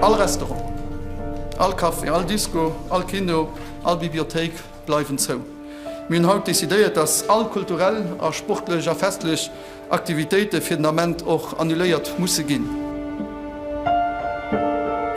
All Restaurant, all Café, all Disco, all Kino, all Bibliothéik bleiwen zou. Mir hunn haut decidéiert, dass all kulturell a sportlech a festlech Aktivitéite fir den Ament och annuléiert musse ginn.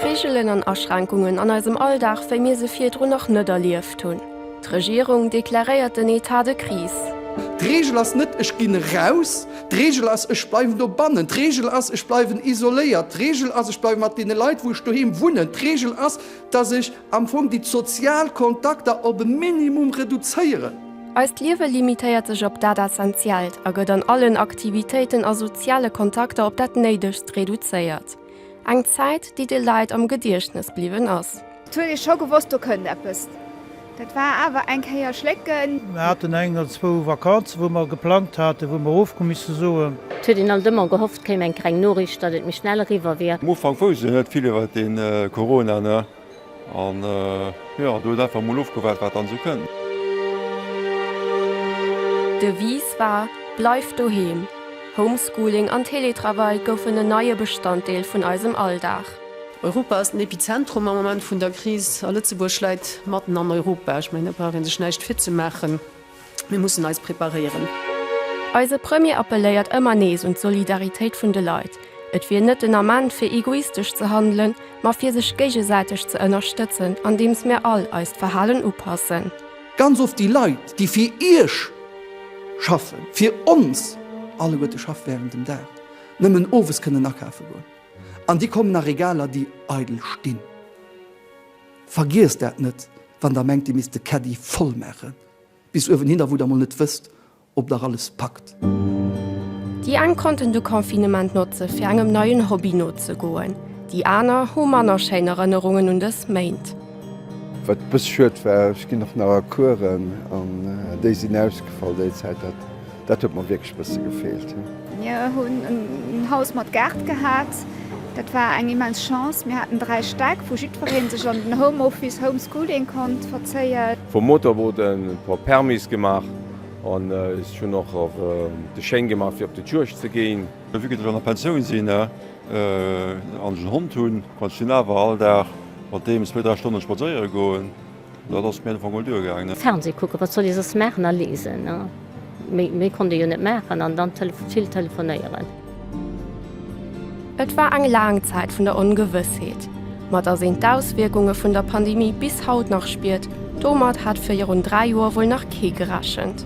Reegelen an Aschränkungen an eisem Alldag, wéi mir se virdrun nach net erlieft hunn. D'Regierung deklaréiert den Etat de Crise. D'Reegel ass net, ech ginn eraus. D'Reegel ass, ech bleiwen dobannen. D'Reegel ass, ech bleiwen isoléiert. D'Reegel ass, ech bleiwe mat deene Leit, wou ech doheem wunnen. D'Reegel ass, dass ech. Am Fong déi sozial Kontakter op e Minimum reduzéieren. Eist Liewe limitéiert sech op dat Essentiellt a gëtt an allen Aktivitéiten a soziale Kontakter op dat Néidegst reduzéiert. Eng Zäit, déi de Leit am Gediechtnes bliwwen ass. Et huet ee scho gewosst, do kënnt eppes. Dat war awer eng Kéier schlécken. Mir haten eng oder zwou Vakanzen, wou mer geplangt haten, wou mer of hu misse soen. Et huet een alt ëmmer gehofft. Kéim eng greng Noriicht, datt et méi schnell eriwwer wier. Am Ufank wousst een net vill iwwert de Corona, ne? An jo, do huet einfach mol ofgewaart, wat dann esou kënnt. D'Devise war, Bleif doheem! Homeschooling an Teletravail goufen en neie Bestanddeel vun eisem Alldag. Europa ass den Epizentrum am Moment vun der Kris a Lëtzebuerg läit matten an Europa. Ech mengen, do brauch ee sech näischt virzemaachen. Mir mussen eis preparéieren. Eise Premier appelléiert ëmmer nees un d'Solidaritéit vun de Leit. Et wier net den Ament fir egoistesch ze handelen, ma fir sech géigesäiteg ze ënnerstëtzen, andeems mir all eist Verhalen upassen. Ganz oft déi Leit, déi fir Iech schaffen, fir ons alleguerte schaffen während dem Dag, nëmmen owes kënnen akafe goen. An déi kommen a Regaler, déi eidel stinn. Vergiesst dat net, wann der mengt, dir misst de Caddy voll maachen bis uewen hinner, wou der mol net wësst, ob der alles packt. Déi eng konnten de Confinement notze fir engem neien Hobby nozegoen, déi aner hu manner schéin Erënnerungen un dës Méint. Wat e bësse schued war, ech ginn och nach a Coursen an déi sinn ausgefall déi Zäit, dat Dat huet mer wierklech bësse gefeelt. Mir hunn en Haus mat Gaart gehat. Dat war eng immens Chance. Mir haten 3 Stäck, wou jiddwereen sech an den Home Office, Home Schooling konnt verzéien. Vum Motorboot e puer Permise gemaach an ech hunn och de Schéin gemaach fir op de Juegd ze ginn. Vu gëtt ech an der Pensioun sinn an ech en Hond hunn, konnt ech deen awer all Dag mat deem zwee, dräi Stonne spadséiere goen. Dat ass mir op alle Fall mol duergaangen. Fernseh kucken, wat soll ee soss maachen, a lesen. Méi konnt ee jo net maachen. An dann vill telefonéieren. Et war eng laang Zäit vun der Ongewëssheet, ma dass een d'Auswierkunge vun der Pandemie bis haut nach spiert, domat hat virun dräi Joer wuel nach kee gerechent.